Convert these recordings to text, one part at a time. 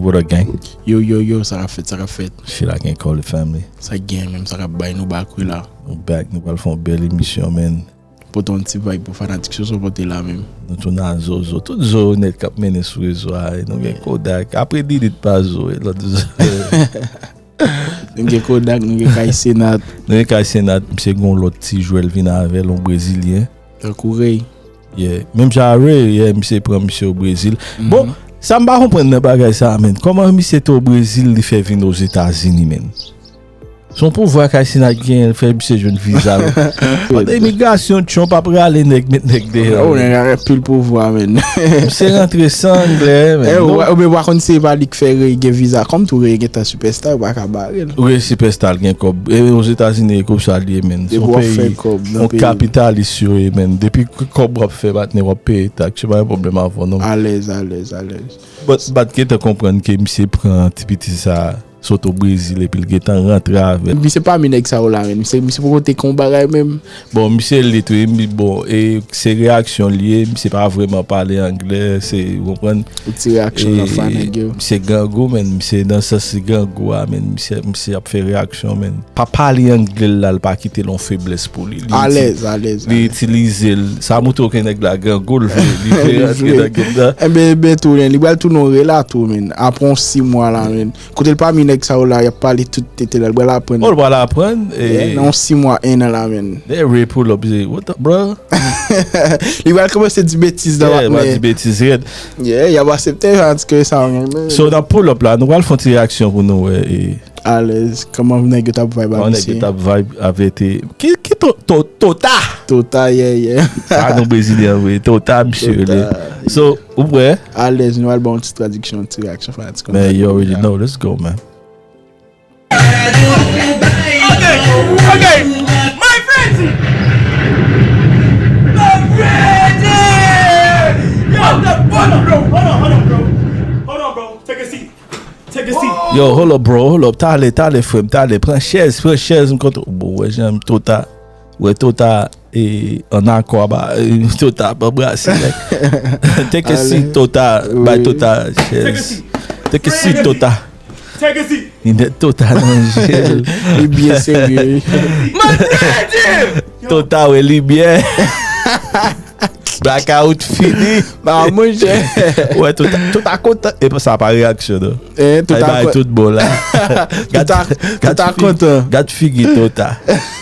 What up gang? Yo yo yo sa kap fèt sa kap fèt. Chila gen kòl li fèm li. Sak gen menm sa kap bay nou back wi la. Nou back nou pral fè yon bèl emisyon menn. Pote yon ti vibe pou fanatik Soso pote la menm. Nou tounen a Zozo. Tout zo nèt kap mennen sou rezo a e nou gen Kodak. Apre Didi t pa zo e lòt zo. Nou gen Kodak nou gen Kay Senat. Nou gen Kay Senat misye gen yon lòt ti jwèl vin avèl yon brezilyen. Tankou Rey. Yeah, menm jan avè, yeah, misye pran misye o Brezil. Bon, sa m pa konprann nan bagay sa a menn, kòman misye te o Brezil li fè vin Ozetazini menn? Se yon pouvwa Kay Sinat genyen l fè misye jwenn viza l. Pandan imigrasyon Trump ap rale nèg met nèg deyò. Oh, nèg la gen pil pouvwa menn. Misye rantre san anglè menn. Eh, ou menm ou pa konn se pa li k fè Rey gen viza kòm tou, Rey gentan sipèsta yo pa ka ba. Wi sipèsta l gen kòb. E ozetazini e konsa l ye menn. Se yon peyi yon kapitalis yo ye menn. Depi ki kòb w ap fè patnè w ap peye taks. Se pa yon pwoblèm avè w non. Alèz alèz alèz. Bat gentan konprann ke misye pran ti piti sa sot o Brezil epi l gentan rantre avè l. Misye pami nèg sa yo la menn. Misye poko te kon bagay menm. Bon misye elit wi m bon e se reyaksyon l ye misye pa vreman pale anglè se ou konprann Yon ti reyaksyon lan fa nèg yo. Misye grangou menn misye nan sans li grangou a menn misye misye ap fè reyaksyon menn pa pale anglè l la l pa kite l yon feblès pou li li Alèz alèz li alèz. itilize l sa moutre w ke nèg la grangou l vle li vle Li rantre vle. nan gèm nan. Enben enben tou nen li pral tounen yon relato menn apre yon 6 mwa la menn. Kotel pami nèg sa yo la yap pale tout tete la li pral aprann. Oh li pral aprann e. Nan yon 6 mwa 1 an la menn. Lè Ray pull up li di what the bruh. Li pral kòmanse di betiz nan matnè. Yeah li pral di betiz rèd. Yeah yap asepte yo antuka e sa mwen renmen. So nan pull up la nou pral fon ti reyaksyon pou nou wè e. Alèz kòman nèg yo tap vibe a mesye. Kòman nèg yo tap vibe avè te. Ki ki to to tota. Tota yeah yeah. Sa nou brezilyen vre tota misye rele. Tota yeah. So. Ou prè? Alèz nou al ba yon ti tradiksyon, yon ti reyaksyon fanatik yo. Man, you already know, let's go man. Yo, hold up bro, hold up, tale, tale frèm, tale, pran chèz, pran chèz m kontre, bon wè jan m to ta, wè to ta. E an akò a ba Total pa brase nèg. Teke si Total bay Total chèz. Teke si Total. Teke si. Linèt Total nan je l. Li byen serye wi. Mwen tèl di l. Total wè limyè. Blackout fini. Ba mwen jè. Wè Total. Total kontan. E sa pa reyaksyon non. E Total kontan. Sa y bay tout bon la. Total kontan. Gad figi Total.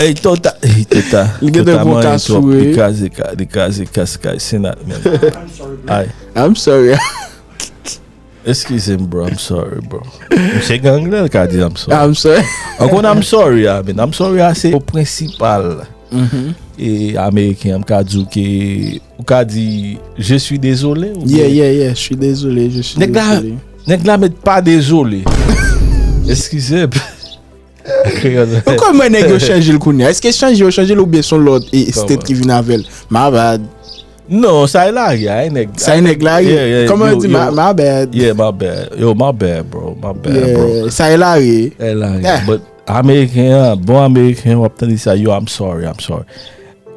Ey Tota li kraze kas kay Senat menn I'm sorry Eskize m bro I'm sorry bro Misye gen angle l ka di I'm sorry I'm sorry Ou konn I'm sorry a I'm sorry a se prensipal Ameriken m ka di w ke Ou ka di, je suis désolé. Yeah, yeah, yeah, je suis désolé, je suis désolé. Nèg la met pa désolé. Eskize. Ou kon mwen nèg yo chanje l kounye. Eske chanje yo chanje l ou byen son lòt e state ki vin avèl. My bad. Non, sa e lage, a e nèg. Sa e nèg lage? Koman di my bad? Yeah, my bad. Yo, my bad, bro. My bad, bro. Sa e lage? E lage. Ameriken an bon ameriken an wap tande sa yo I'm sorry I'm sorry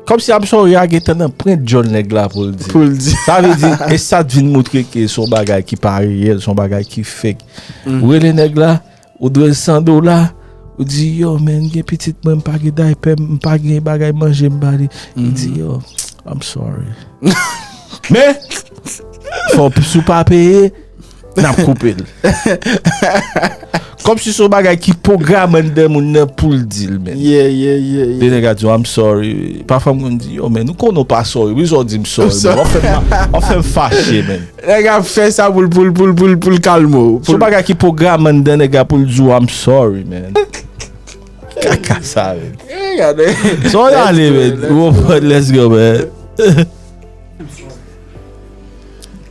Kòm si I'm sorry a gentan nan prent djòl nèg la pou l di Pou l di Sa vle di e sa t vin moutre ke s on bagay ki pa reyèl s on bagay ki fake Ou rele nèg la ou dwe l 100 dola ou di yo men m gen pitit mwen m pa gen daypè m pa gen bagay manje m ba li Li di yo I'm sorry Men fò si w pa peye Nap koupe l. Kom si son bagay ki pwogram anndan moun nan pou l di l men. Yeah, yeah, yeah, yeah. Gen nèg a di w I'm sorry. Pafwa m konn di yo men nou konnen w pa sorry. Poukisa w di m sorry men? Wap fè m, wap fè m fache men. Nèg ap fè sa pou l, pou l, pou l, pou l, pou l kalme w. Son bagay ki pwogram anndan nèg la pou l di w I'm sorry men. Kaka sa men. Hey, gade. Son y ale men. Let's go, let's go. Let's go men.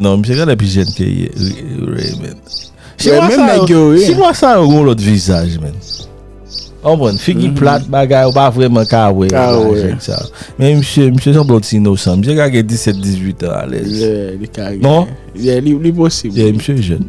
Non misye gade pi jèn ke Ray men. Chinwa sa yo yon lòt vizaj men. An bon, figi mm-hmm. plat bagay ou pa vreman ka we. Men misye, misye san blot si nou san. Misye kage 17-18 an alèz. Non? Li posib. Misye jèn.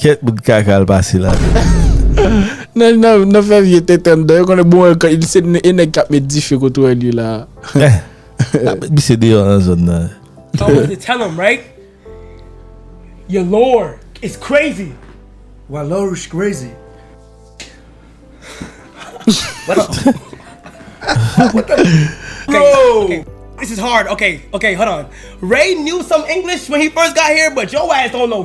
Kèt bout kaka al pase la menm. Nan fè vye tenten anndan yo konnen bon se e nèg kap met dife kote wèl ye la. Met misye deyò nan zòn nan. Always dey tell em right your lawyer is crazy. Wa lawyer is crazy. Bro. This is hard ok ok hold on Ray knew some English when he first got here but yo ass don't know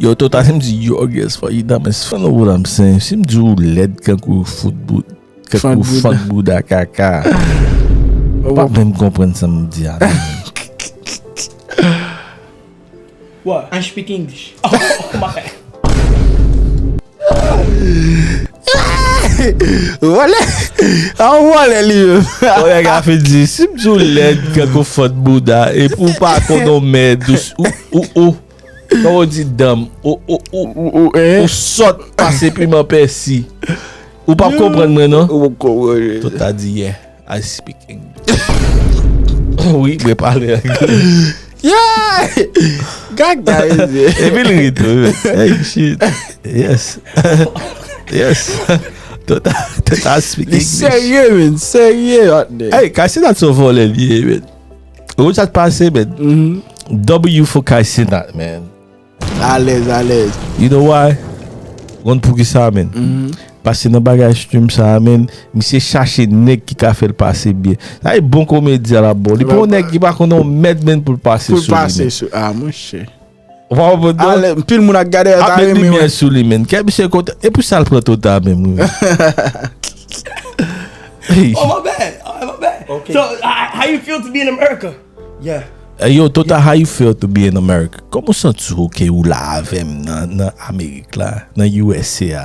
Yo to ta sim di yo guess for you da men si fè nou wou la mse sim di ou led kan kou fout bout kan kou fok bout da kaka ou pa menm konpren sa m di a wou an speak english oh ma kè wou an wou an lè li yo wou an ka fè di sim di ou led kan kou fout bout da e pou pa konon mè dous ou ou ou Kòman ou di danm? Ou sòt pase piman pèsi. Ou pap konprann mwen non. Tout ta di yeah, I speak English. Wi, mwen pale angle. Yeah! Gag da e di. Epi li ri tou. Hey, shit. Yes. Yes. Tout ta speak English. Li serye, men. Serye, hotne. Hey, Kassy dat son vòlè li ye, men. Ou sa t pase men W fo kay senat men Alèz alèz You know why Ou konn poukisa men Pase nan bagay stream sa a men Misye chache nèg ki ka fè l pase byen Sa e bon komedyen la bro Li pa yon nèg ki pa konn yon mèd men pou l pase sou li men Pou l pase sou a mouche Waw bro. Ale anpil moun ak gade a ta renmen. Ap met limyè sou li menn. Kè misye kontan. E pou sal pran to ta menm. Oh my bad. Oh my bad. Ok. So how you feel to be in America? Yeah. Hey yo Tota how you feel to be in America? Kòman w santi w ke ou la avèm nan Amerik la, nan usa a?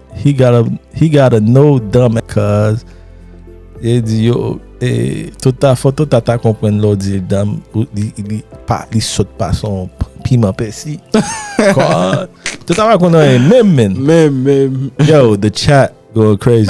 He got a, he got a no dumb cuz e di yo e tout ta foto ta ta konprann lè w di l dumb ou li li pa li sòt pa son piman pèsi tout ta pa konn anyen menm menn menm menm yo the chat going crazy.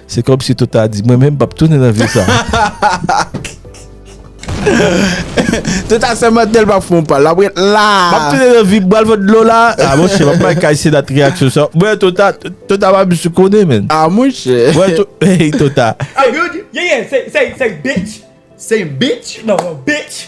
Se kòm si tout ta di, mwen menm m pap tounen nan vi sa a. Tout a sèmante l pap fon pa l, l ap ret la a. M ap tounen nan vi m, bwal vant dlo la a. A monchè, m ap bay kay Senat reyaksyon sa a. Mwen tout a, tout a pa msye konnen menn. A monchè. Mwen tout, hey tout a. A good, yeah yeah, say, say, say bitch. Say bitch? Non, bitch.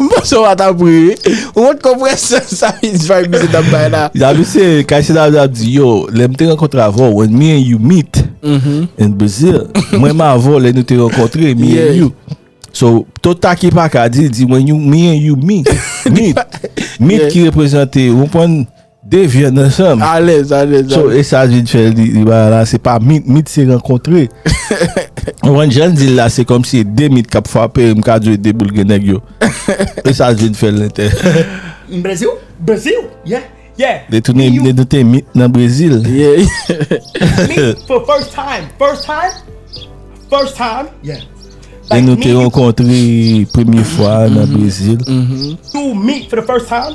M panse w pa ta pri wi. Ou wont konpresyon sa Miss Vibe misye t ap bay la. Ya misye, kay se la li ap di yo, lè m te rankontre avè w, when me and you meet in Brazil, mwen m avè w lè nou te rankontre, me and you. So, tout taki pa ka di, di when you, me and you meet. Meet, meet ki reprezante, ou konprann, De vyann ansanm. Alèz alèz. So e sa vin fè li bay la se pa mit, mit se rankontre. Ou konprann jan l di l la se kòm si e de mit k ap fwape m ka di w e de boul gen nèg yo. E sa vin fè l entè. M Breziw, Breziw, yeah, yeah. Li tounen li vin te mit nan Brezil. Yeah. Me for first time, first time, first time, yeah. Like me. E nou te rankontre premye fwa nan Brezil. To meet for the first time.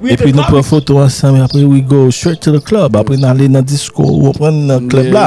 Epi nou pran foto ansanm apre we go straight to the club apre n ale nan disko ou konprann nan club la.